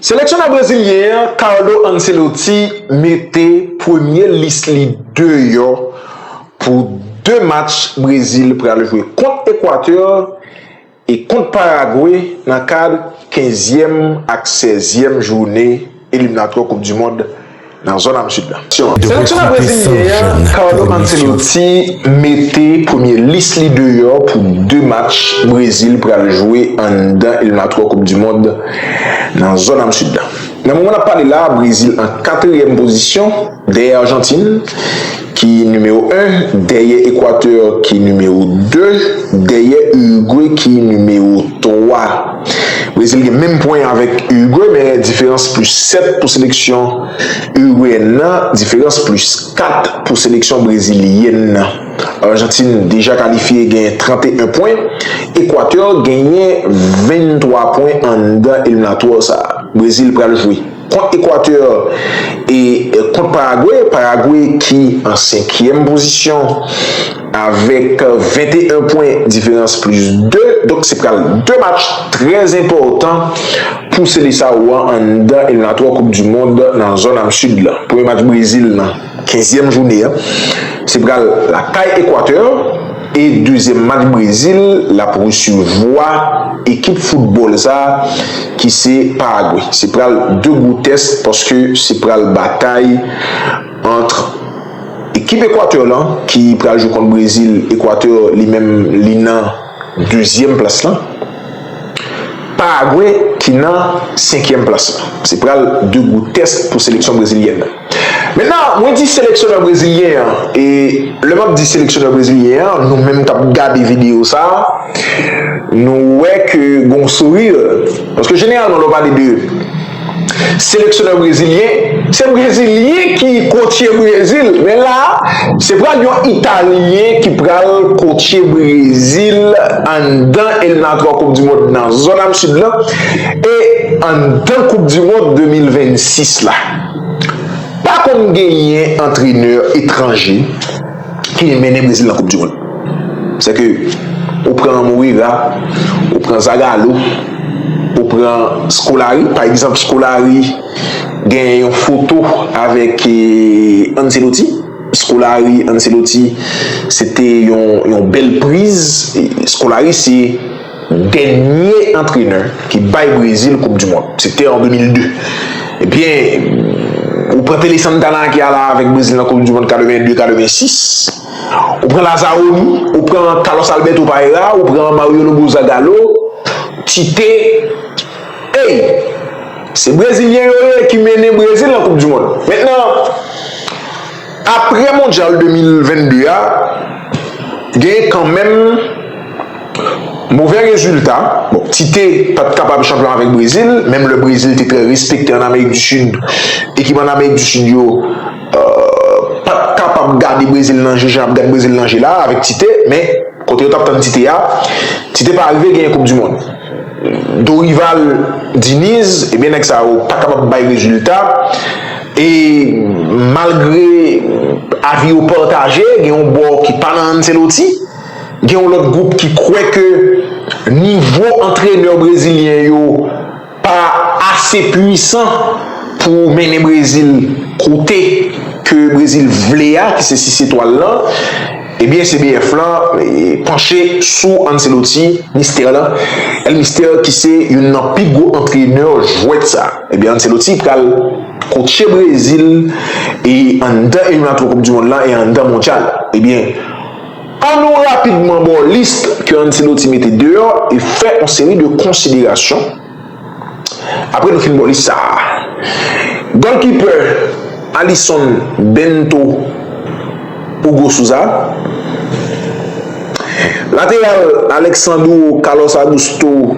Seleksyonè brezilyen an Carlo Ancelotti mete premye lis li deyò pou 2 match Brezil pral jwe kont Ekwatè e kont Paragwe nan kad kenzyèm ak sèzyèm joune eliminatwa koup du mond nan zòn am sid lan. Seleksyonè brezilyen an Carlo Ancelotti mete premye lis li deyò pou 2 match Brezil pral jwe anndan eliminatwa koup du mond nan zòn am sid lan. Nan moman nap pale la Brezil an 4 ème pozisyon dèyè Arjantin. ki nimewo 1, dèyè Ekwatè ki nimewo 2, dèyè Urugwe ki nimewo 3. Brezil gen menm pwen avèk Urugwe men diferans plis 7 pou seleksyon Urugweyèn nan, diferans plis 4 pou seleksyon Brezilyèn nan. Arjantin deja kalifye gen 31 pwen, Ekwatè genyen 23 pwen anndan eliminatwa sa Brezil pral jwe. Kont Ekwatè e kont Paragwe, Paragwe ki an senkyèm pozisyon avèk 21 pwen diferans plis 2, donk se pral 2 match trè enpòtan pou Seleçao an anndan eliminatwa koup du mond nan zòn am Sid la. Premye match Brezil nan. Kenzyèm joune an se pral lakay Ekwatè e dezyèm match Brezil l ap resevwa ekip foutbòl sa ki se Paragwe. Se pral 2 gwo tès paske se pral batay antr ekip Ekwatè lan ki pral jwe kont Brezil, Ekwatè li menm li nan. dezyèm plas lan, Paragwe ki nan senkyèm plas lan. Se pral 2 gwo tès pou seleksyon brezilyèn nan. Mentnan, mwen di seleksyonè brezilyen an, e lè m ap di seleksyonè brezilyen an, nou menm k ap gade videyo sa a, nou wè ke gen yon sourire, paske jeneralman lè w pale de. Seleksyonè brezilyen, se brezilyen ki kotye Brezil, men la a, se pral yon italyen ki pral kotye Brezil anndan eliminatwa koup di mond nan zòn am sid lan e anndan koup di mond 2026 la. Pa konn genyen antrenè etranje. ki vin mennen Brezil nan koup du mond. Sè ke ou pran Moreira, ou pran Zagallo, ou pran Scolari, pa egzanp Scolari gen yon foto avèk Ancelotti, Scolari, Ancelotti se te yon bèl priz, Scolari se. Dènye antrenè ki bay Brezil koup du mond se te an 2002. Ebyen ou pran Pele Santana ki al avèk Brezil nan koup du mond 82, 86. Ou pran Lazaroni, ou pran Carlos Alberto Parreira, ou pran Mario Lobo Zagallo, Tite. Ey! Se Brezilyen yo ye ki mennen Brezil nan koup du mond. Mentnan. Aprè mondyal 2022 a, genyen kanmenm movè rezilta, bon Tite pa t kapab chanpyon avèk Brezil, menm lè Brezil te trè respekte an Amerik di Sid, ekip an Amerik di Sid yo pa t kapab gade Brezil nan je jan y ap gad Brezil nan je la a avèk Tite, men. Kote yo tap tann Tite a? Tite pa arive genyen koup du mond. Dorival, Diniz, ebyen nèg sa yo pa kapab bay rezilta e malgre avi yo pataje gen yon bò ki pa nan Ancelotti, gen yon lòt gwoup ki kwè ke nivo antrenè brezilyen yo pa ase pwisan pou mennen Brezil kote ke Brezil vle a ki se 6 etwal lan, ebyen CBF lan panche sou Ancelotti, Mistè lan, El Mister ki se youn nan pi gwo antrenè jwèt sa. Ebyen Ancelotti pral kotche Brezil e anndan eliminatwa koup di mond lan e anndan mondyal. Ebyen. An nou rapidman ba w lis ke Ancelotti mete deyò e fè yon seri de konsiderasyon apre nou fin ba w lis sa a. Gòlkipè, Alisson, Bento, Hugo Sousa. Lateral, Alexandro, Carlos Augusto.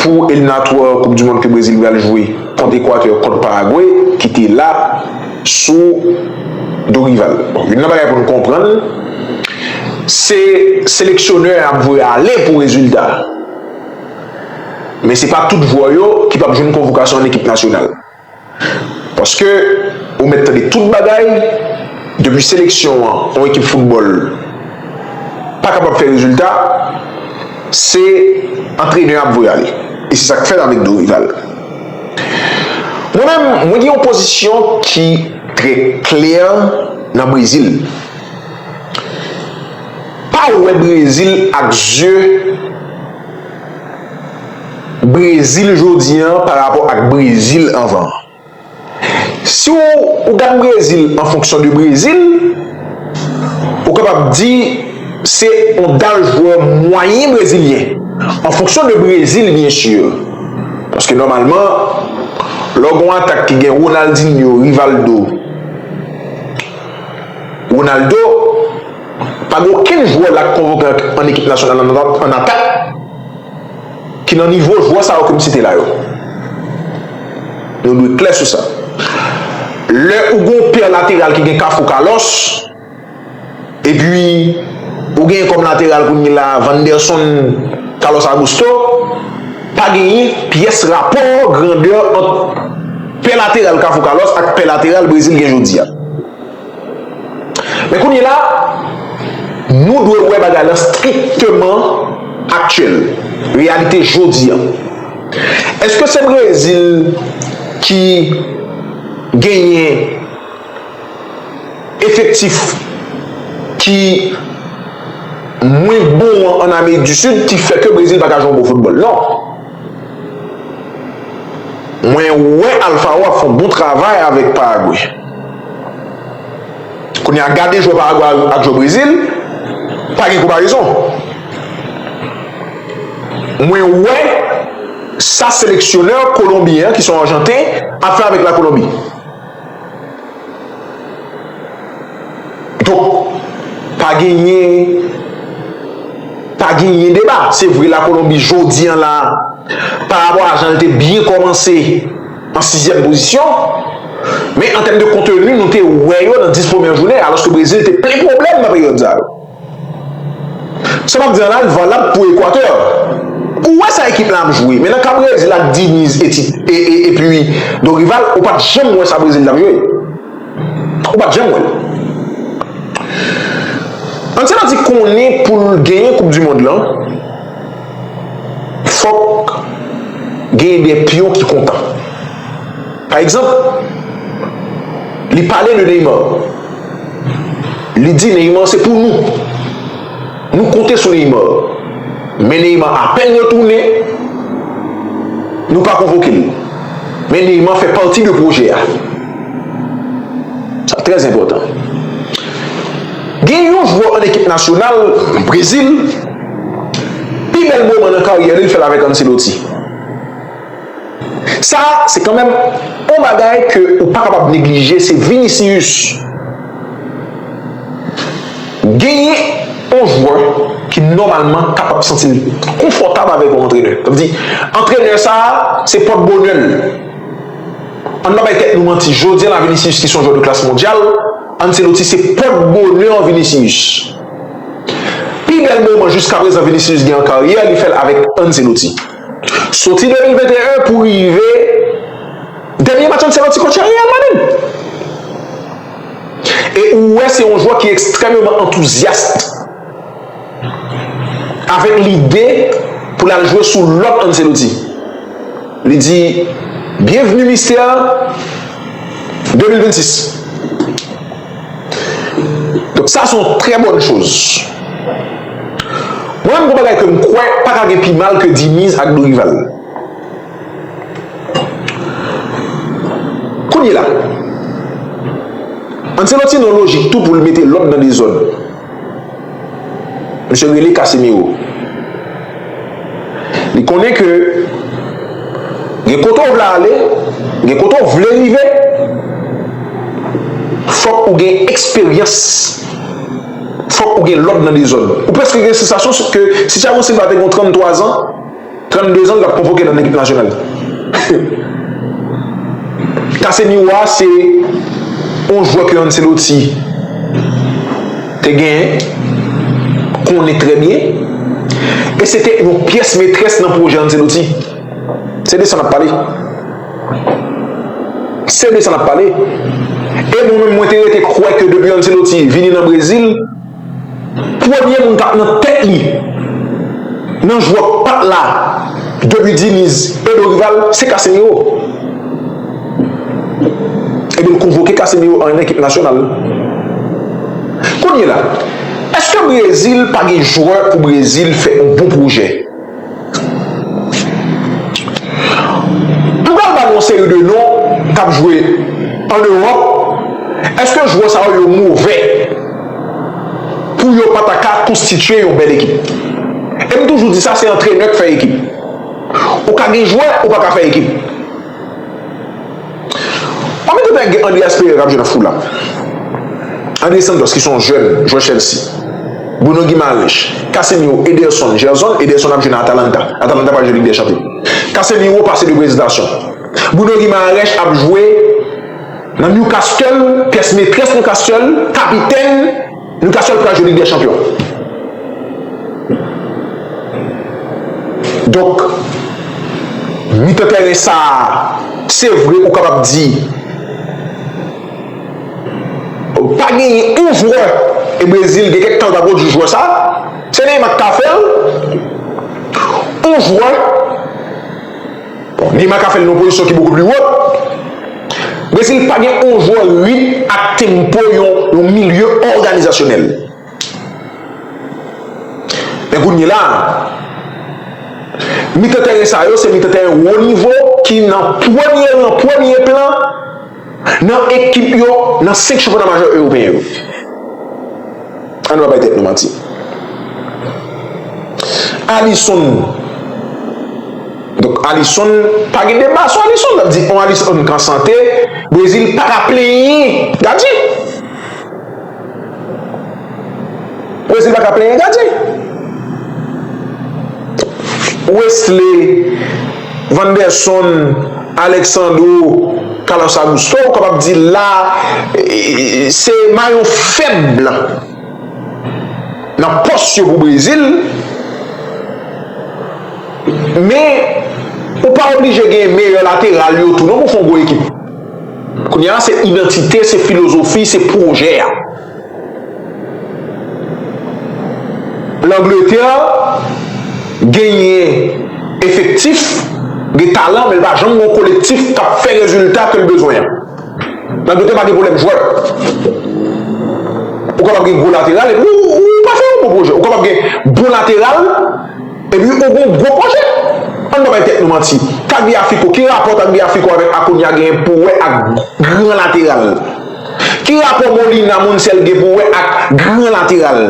Pou eliminatwa koup du mond ke Brezil pral jwe kont Ekwatè kont Paragwe ki te la sou Dorival. Bon youn nan bagay pou nou konprann se seleksyonè an ap voye ale pou rezilta. Men se pa tout jwè yo ki pap jwenn konvokasyon an ekip nasyonal. Paske ou mèt tande tout bagay, depi seleksyon an, yon ekip foutbòl pa kapab fè rezilta, se antrenè a voye ale. E se sa k fèt avèk Dorival. Mwen menm, mwen gen yon pozisyon ki trè klè nan Brezil. Pa wè Brezil ak zye. Brezil jodi an pa rapò ak Brezil anvan. Si w ou gad Brezil an fonksyon de Brezil, ou kapab di se yon dal jwè mwayen brezilyen. An fonksyon de Brezil byen si. Paske nòmalman lè w gen yon atak ki gen Ronaldinho, Rivaldo, Ronaldo. Pa gen okenn jwè la k konvoke an ekip nasyonal an an atak ki nan nivo jwè sa yo ke m site la yo. Nou dwe klè sou sa. Lè ou gen yon pè lateral ki gen Kafou Kalòs, epi ou genyen kòm lateral kounye la a Vanderson Kalòs Agusto, pa genyen pyès rapò grandè ant pè lateral Kafou Kalòs ak pè lateral Brezil gen jodi a. Men kounye la, nou dwe wè bagay lan strikteman aktyèl, reyalite jodi an. Eske se Brezil ki genyen efektif ki mwen bon an an Amerik di Sid ki fè ke Brezil pa ka jwe yon bon foutbòl? Non. Mwen wè Alfaro ap fè yon bon travay avèk Paraguay. Kounye a gade jwè Paraguay ak jwè Brezil, pa gen konparezon. Mwen wè sa seleksyonè Kolonbyen an ki son Arjanten ap fè avèk la Kolonbi. Donk, pa genyen, pa genyen deba. Se vre la Kolonbi jodi an la, pa rapò a jan l te byen kòmanse an sizyèm pozisyon, men an tèm de konteni nou te wè yo nan 10 premyè jounen, alòske Brezil te plen pwoblèm nan peryòd sa yo. Sa map di an la valab pou Ekwatè. Ou wè sa ekip lan ap jwe, men nan ka Brezil ak Diniz epi Dorival ou pat janm wè sa Brezil tap jwe. Ou pat janm wèl. Anceloti konnen poul genyen koup du mond lan fòk genyen de pyon ki kontan. Pa egzanp, li pale de Neymar. Li di Neymar se pou nou. Nou konte sou Neymar. Men Neymar apèn retounen, nou pa konvoke l. Men Neymar fè pati de pwojè a. Sa trè enpòtan. Gen yon jwè an ekip nasyonal Brezil, pi bèl moman nan karyè li l fè l avèk Ancelotti. Sa se kanmenm on bagay ke ou pa kapab neglije se Vinicius genyen on jwè ki nòmalman kapab santi l konfòtab avèk on antrenè sa vle di antrenè sa se pòt bonè l ann pa bay tèt nou manti jodi la Vinicius ki se on jwè de klas mondyal Ancelotti se pòt bonè Vinicius pi bèl moman jiskaprezan Vinicius gen an karyè li fè l avèk Ancelotti. Soti 2021 pou rive dènye match Ancelotti kotche Real Madrid. E ou wè se yon jwè ki ekstrèmeman antouzyast avèk lide pou l al jwe sou lòt Ancelotti. Li di, Byenvni Mister 2026. Donk sa se yon trè bòn choz. Mwen menm gon bagay ke m kwè pa ka gen pi mal ke Diniz ak Dorival. Kounye la, Ancelotti nan lojik tou pou l mete lòd nan dezòd. Misye rele Casimiro. Li konnen ke gen kote ou vle ale, gen kote ou vle rive, fòk ou gen eksperyans, fòk ou gen lòd nan dezòd. Ou preske gen sensasyon ke si Thiago Silva te gen 33 zan, 32 ans lap konvoke nan ekip nasyonal. Casemiro a se yon jwè ke Ancelotti te genyen, konnen trè byen e se te yon pyès metrès nan pwojè Ancelotti. Se de sa nap pale. Se de sa nap pale. E mwen menm mwen te rete kwè ke depi Ancelotti vini nan Brezil. Premye moun kap nan tèt li nan jwèt pat la depi Diniz e Dorival se Casemiro. Ebyen l konvoke Casemiro an ekip nasyonal. Kounyela eske Brezil pa gen jwè pou Brezil fè yon bon pwojè? M pral ba nou yon seri de non kap jwe an Europe eske jwè sa yo move pou yo pa ta ka konstitye yon bèl ekip e m toujou di sa se antrenè k fè ekip ou ka gen jwè ou pa ka fè ekip. Pami tout nèg gen Andreas Pereira kap jwe nan Fulham, Andre Santos ki se yon jèn jwè Chelsea, Bruno Guimaraes, Casemiro, Ederson, Gerson, Ederson ap jwe nan Atalanta, Atalanta pral jwe Lig dè Chanpyon, Casemiro pase de prezitasyon, Bruno Guimaraes ap jwe nan Newcastle, pyès metrès Newcastle, kapitèn. Newcastle pral jwe lig dè chanpyon donk mitan tèren sa se vre ou kapab di pa genyen yon jwè e Brésil gen kèk tan l pa pwodui jwè sa se Neymar k ka fè l yon jwè Neymar ka fè l nan yon pozisyon ki beaucoup plus haute. Brezil pa gen yon jwè ritm ak tempo yon milye òganizasyonèl. Men kounyela a, mitan tèren sa yo se mitan tèren wo nivo ki nan premye ran, premye plan. Nan ekip yo nan 5 chanpyona majè ewopeyen yo. An nou pa bay tèt nou manti. Alisson, donk Alisson, pa gen deba sou Alisson, sa vle di yon Alisson ki an sante, Brezil pa ka plenyen gadyen. Brazil paka plenyen gadyen. Wesley, Vanderson, Alexandro, Carlos Augusto ou kapab di la se mayo fèb nan pòs yo pou Brazil. Men ou pa oblije gen meyè lateral yo tou non pou fon gwo ekip. Kounye a se idantite, se filozofi, se pwojè a. Langletè genyen efektif, gen talan men l pa janm gen yon kolektif k ap fè rezilta ke l bezwen an. Langletè pa gen pwoblèm jwè. Ou kapab gen gwo lateral epi ou pa fè yon bon pwojè. Ou kapab gen bon lateral. Epi ou gen yon gwo pwojè? Ann pa bay tèt nou manti. Tagliafico, ki rapò Tagliafico avèk Acuna gen pou wè ak gran lateral? Ki rapò Molina, Montiel gen pou wè ak gran lateral?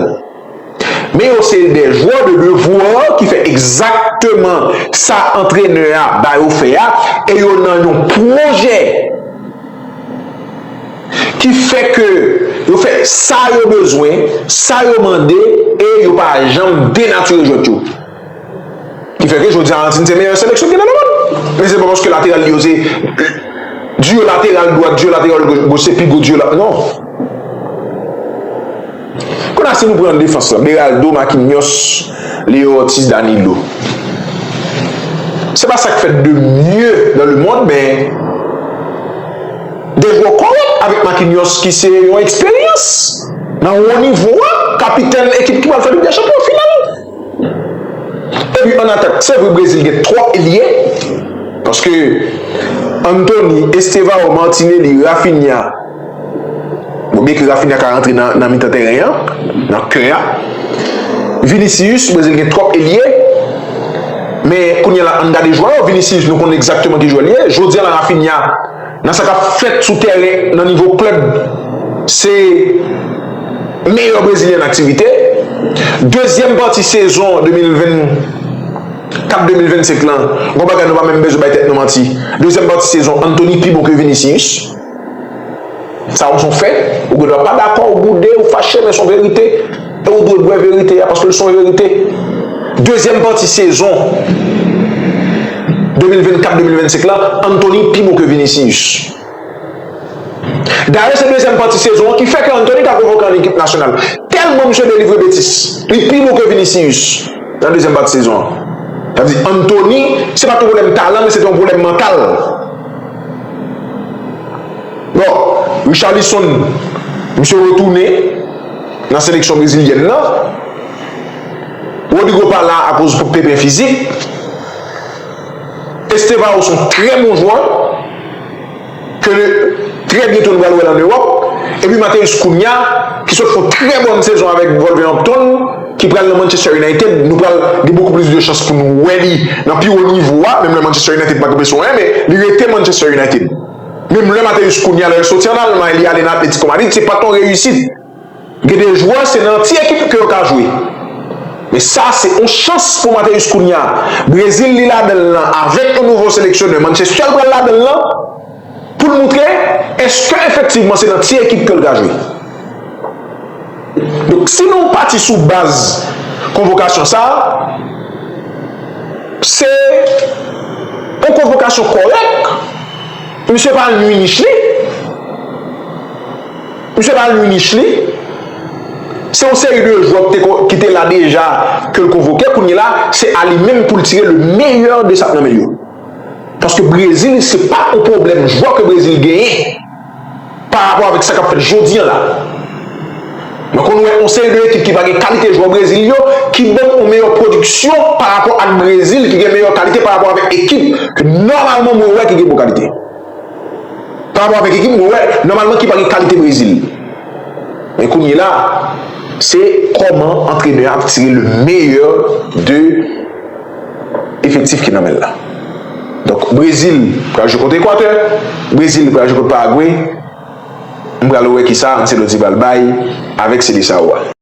Men yo se de jwè de devoir ki fè egzakteman sa antrenè a ba yo fè a e yo nan yon pwojè. Ki fè ke yo fè sa yo bezwen, sa yo mande e yo pa janm denatire jwèt yo. Ki fè ke jodi a Argentine se meyè seleksyon ki nan lemond. Men se pa paske lateral li yo se duo lateral dwat, duo lateral goch se pi gwo duo lateral non. Kona si nou pran defans lan Beraldo, Marquinhos, Leo Ortiz, Danilo. Se pa sak fèt de mye nan le mond men gen gwo kòlòt avèk Marquinhos ki se yon eksperyans nan wo nivo a, kapitèn ekip ki pral fè Lig dè Chanpyon final. Epi an atak se vre Brezil gen twòp elye paske Antony, Estevao, Martinelli, Raphinha. Bon byen ke Raphinha ka rantre nan mitan tèren an, nan kè a. Vinicius, Brésil gen twòp elye. Men kounye la an n gade jwè yo, Vinicius nou konnen egzakteman ki jwè li ye. Jodi an la Raphinha nan sa k ap fèt sou tèren nan nivo klèb se meyè Brezilyen an aktivite. Dezyèm pati sezon 2024, 2025 lan, gon bagay nou pa menm bezwen bay tèt nou manti, dezyèm pati sezon Antony pi bon ke Vinicius. Sa ou son fè, ou gen dwa pa dakò, ou boude, ou fache men son verite e ou dwe bwè verite a paske l son verite. Dezyèm pati sezon 2024 2025 lan, Anthony pi bon ke Vinicius. Dayè se dezyèm pati sezon an ki fè ke Anthony ta konvoke an ekip nasyonal. Tèlman misye delivre betis, li pi bon ke Vinicius nan dezyèm pati sezon an. Sa vle di Anthony se pa t yon pwoblèm talan men se te yon pwoblèm mantal. Bon, Richarlison, misye retounen nan seleksyon brezilyèn nan. Rodrygo pa la akoz pepè fizik. Estevao son trè bon jwè, ke trè byento nou pral wè l an Ewòp. Epi Matheus Cunha, ki sot fè yon trè bòn sezon avèk Wolverhampton. ki pral nan Manchester United, nou pral gen bokou plis de chans pou nou wè li nan pi wo nivo a, menm lè Manchester United pa gen presyon anyen, men li rete Manchester United. Menm lè Matheus Cunha, lè l soti an Almay, li ale nan Atlético Madrid, se pa t yon reyisit. Gen de jwè, se nan ti ekip ke yo ka jwe. Men sa, se yon chans pou Matheus Cunha. Brezil li ladan l lan, avèk yon nouvo seleksyonè, Manchester l pral ladan l lan. Pou l moutre eske efektivman se nan ti ekip ke l ka jwe. Donk si nou pati sou baz konvokasyon sa a, se yon konvokasyon kòrèk. Misye pa al nui nich li. Misye pa al nui nich li. Se yon seri de jwè ki te la deja ke l konvoke. Kounyela se a li menm pou l tire le meyè de sa k nan men l yo. Paske Brezil se pa yon pwoblèm jwè ke Brezil genyen parapò avèk sa kap fèt jodi an la. Mwen konn wè yon seri de ekip ki pa gen kalite jwè Brezil yo ki banm yon meyè pwodiksyon parapò ak Brezil ki gen meyè kalite parapò avèk ekip ke nòmalman mwen wè ki gen bon kalite. Parapò avèk ekip mwen wè nòmalman ki pa gen kalite Brezil. Men kounye la se kòman antrenè a ap tire le meyè de efektif ki nan men l la. Donk Brezil pral jwe kont Ekwatè, Brezil pral jwe kont Paragwe, m pral wè kisa Ancelotti pral bay avèk Seleçao a.